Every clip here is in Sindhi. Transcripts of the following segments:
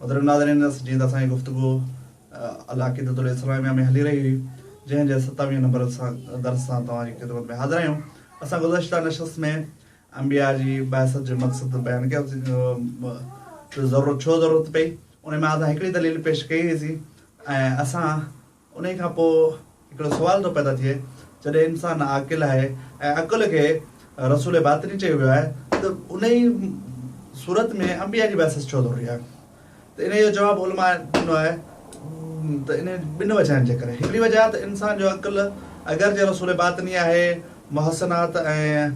محترم ناظرين جيئن ته اسان جي گفتگو العقيدة الاسلامية ۾ هلي رهي هئي جنهن جي ستاويهه نمبر درس سان توهان جي خدمت ۾ حاضر آهيون اسان گذشته نشست ۾ انبياء جي بعثت جو مقصد بيان ڪيو ته ضرورت ڇو ضرورت پئي انهي مان اسان هڪڙي دليل پيش ڪئي هئي سي ۽ اسان انهيء کان پوء هڪڙو سوال ٿو پيدا ٿئي، جڏهن انسان عاقل آهي ۽ عقل کي رسول باطني چيو ويو آهي ته انهيء صورت ۾ انبياء جي بعثت ڇو ضروري آهي؟ ته انهيء جو جواب علماء ڏنو آهي ته انهيء ٻن وجهن جي ڪري، هڪڙي وجه ته انسان جو عقل اگرچه رسول باطني آهي، محسنات ۽.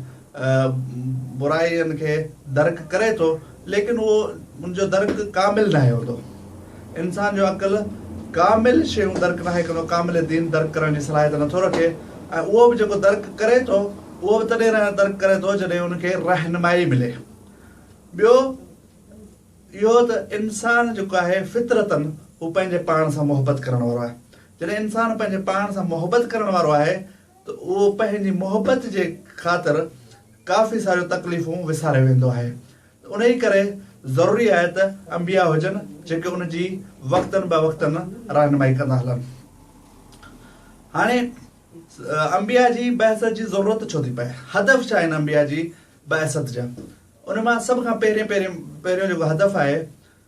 برائين کي درڪ ڪري ٿو ليڪن اهو ان جو درڪ ڪامل ناهي هوندو. انسان جو عقل ڪامل شيون درڪ ناهي ڪندو، ڪامل دين درڪ ڪرڻ جي صلاحيت نٿو رکي ۽ اهو به جيڪو درڪ ڪري ٿو اهو به تڏهن درڪ ڪري ٿو جڏهن ان کي رهنمائي ملي. ٻيو اهو ته انسان جيڪو آهي فطرتاً هو پنهنجي پاڻ سان محبت ڪرڻ وارو آهي. جڏهن انسان پنهنجي پاڻ سان محبت ڪرڻ وارو آهي ته اهو پنهنجي محبت جي خاطر ڪافي ساريون تڪليفون وساري ويندو آهي ته انهي ڪري ضروري آهي ته انبياء هجن جيڪي ان جي وقتن به وقتن رهنمائي ڪندا هلن هاڻي انبياء جي بعثت جي ضرورت ڇو ٿي پئي هدف ڇا آهن انبياء جي بعثت جا ان مان سڀ کان پهرين پهرين پهريون جيڪو هدف آهي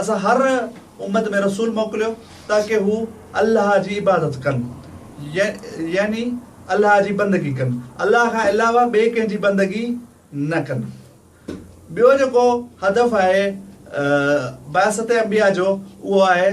اسان هر امت ۾ رسول موڪليو تاڪه هو الله جي عبادت ڪن يعني الله جي بندگي ڪن الله کان علاوه ٻئي ڪنهن جي بندگي نه ڪن ٻيو جيڪو هدف آهي بعثت انبياء جو اهو آهي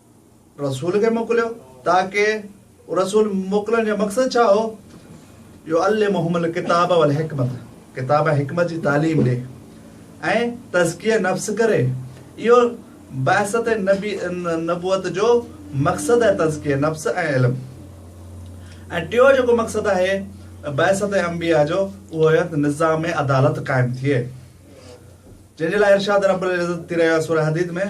رسول کي موڪليو تاڪه رسول موڪلڻ جو مقصد ڇا هو؟ يعلمهم الڪتاب والحڪمت ڪتاب ۽ حڪمت جي تعليم ڏي ۽ تزڪيه نفس ڪري اهو بعثت نبي نبوت جو مقصد آهي تزڪيه نفس ۽ علم ۽ ٽيون جيڪو مقصد آهي بعثت انبياء جو اهو آهي ته نظام عدالت قائم ٿئي جنهن جي لاء ارشاد رب العزت ٿي رهيو آهي سوره حديد ۾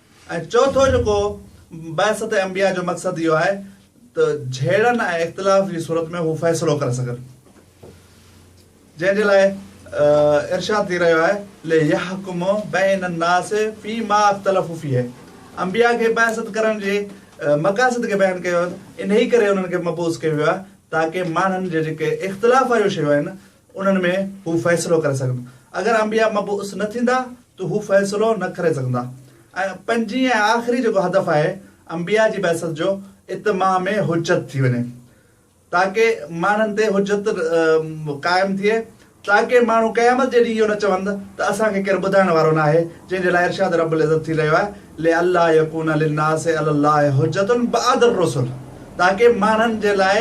۽ چوٿون جيڪو بعثت انبياء جو مقصد اهو آهي ته جهيڙن ۽ اختلاف جي صورت ۾ هو فيصلو ڪري سگهن جنهن جي لاء ارشاد ٿي رهيو آهي ليحڪم بين الناس في ما اختلفوا فيه انبياء کي بعثت ڪرڻ جي مقاصد کي بيان ڪيو ويو انهي ڪري انهن کي مبعوث ڪيو ويو آهي تاڪه ماڻهن جي جيڪي اختلاف واريون شيون آهن انهن ۾ هو فيصلو ڪري سگهن. اگر انبياء مبعوث نه ٿيندا ته هو فيصلو نه ڪري سگهندا. ۽ پنجين ۽ آخري جيڪو هدف آهي انبياء جي بعثت جو اتماع ۾ حجت ٿي وڃي تاڪه ماڻهن تي حجت قائم ٿئي تاڪه ماڻهو قيامت جي ڏينهن اهو نه چون ته اسان کي ڪير ٻڌائڻ وارو ناهي جنهن جي لاء ارشاد رب العزت ٿي رهيو آهي لئلا يڪون للناس علی الله حجة بعد الرسل تاڪي ماڻهن جي لاء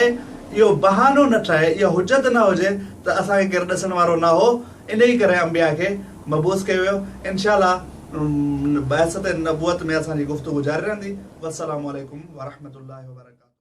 اهو بهانو نه ٺهي، اها حجت نه هجي ته اسان کي ڪير ڏسڻ وارو نه هو، انهيء ڪري انبياء کي مبعوث ڪيو ويو. انشاء الله بعثت نبوت ۾ اسان جي گفتگو جاري رهندي. والسلام عليڪم ورحمة الله وبرڪاته.